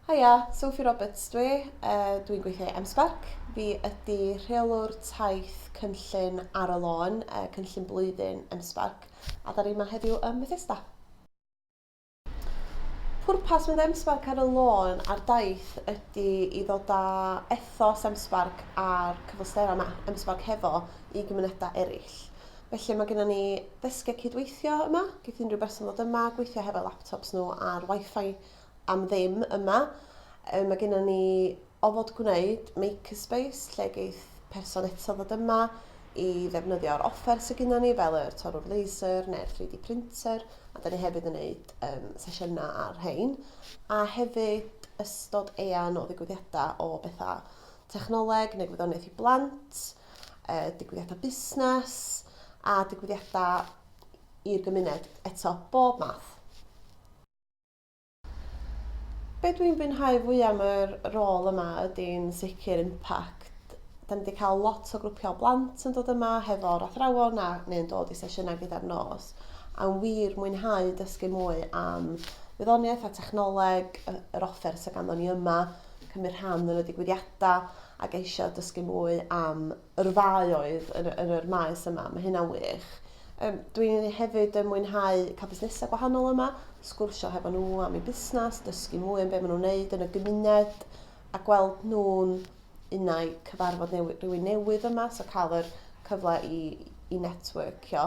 Haia, Sophie Roberts dwi, uh, dwi'n gweithio i MSpark. Fi ydy rheolwr taith cynllun ar y lôn, uh, cynllun blwyddyn MSpark, a da ni yma heddiw ym Methesda. Pwrpas mynd MSpark ar y lôn a'r daith ydy i ddod â ethos MSpark a'r cyfleusterau yma, MSpark hefo, i gymunedau eraill. Felly mae gennym ni ddesgiau cydweithio yma, geith unrhyw berson ddod yma, gweithio hefo laptops nhw ar wifi am ddim yma. Um, mae gennym ni ofod gwneud makerspace lle geith person eto ddod yma i ddefnyddio'r offer sydd gennym ni fel yr torwr laser neu'r 3D printer a da ni hefyd yn gwneud um, sesiynau ar rhain a hefyd ystod eang o ddigwyddiadau o bethau technoleg neu gwyddoniaeth i blant yy digwyddiadau busnes a digwyddiadau i'r gymuned, eto, bob math. Be dwi'n bwynhau fwy am yr rôl yma ydy'n sicr impact. Da ni wedi cael lot o grwpiau blant yn dod yma hefo'r athrawon a neu'n dod i sesiynau gyda'r nos. A'n wir mwynhau dysgu mwy am wyddoniaeth a technoleg, yr offer sydd ganddo ni yma, cymryd rhan yn y digwyddiadau a geisio dysgu mwy am yr ddau oedd yn, yn yr maes yma. Mae hynna'n wych. Um, Dwi'n hefyd yn mwynhau cael busnesau gwahanol yma, sgwrsio hefo nhw am eu busnes, dysgu mwy am beth maen nhw'n wneud yn y gymuned a gweld nhw'n unau cyfarfod newi, rhywun newydd yma, so cael yr cyfle i, i networkio.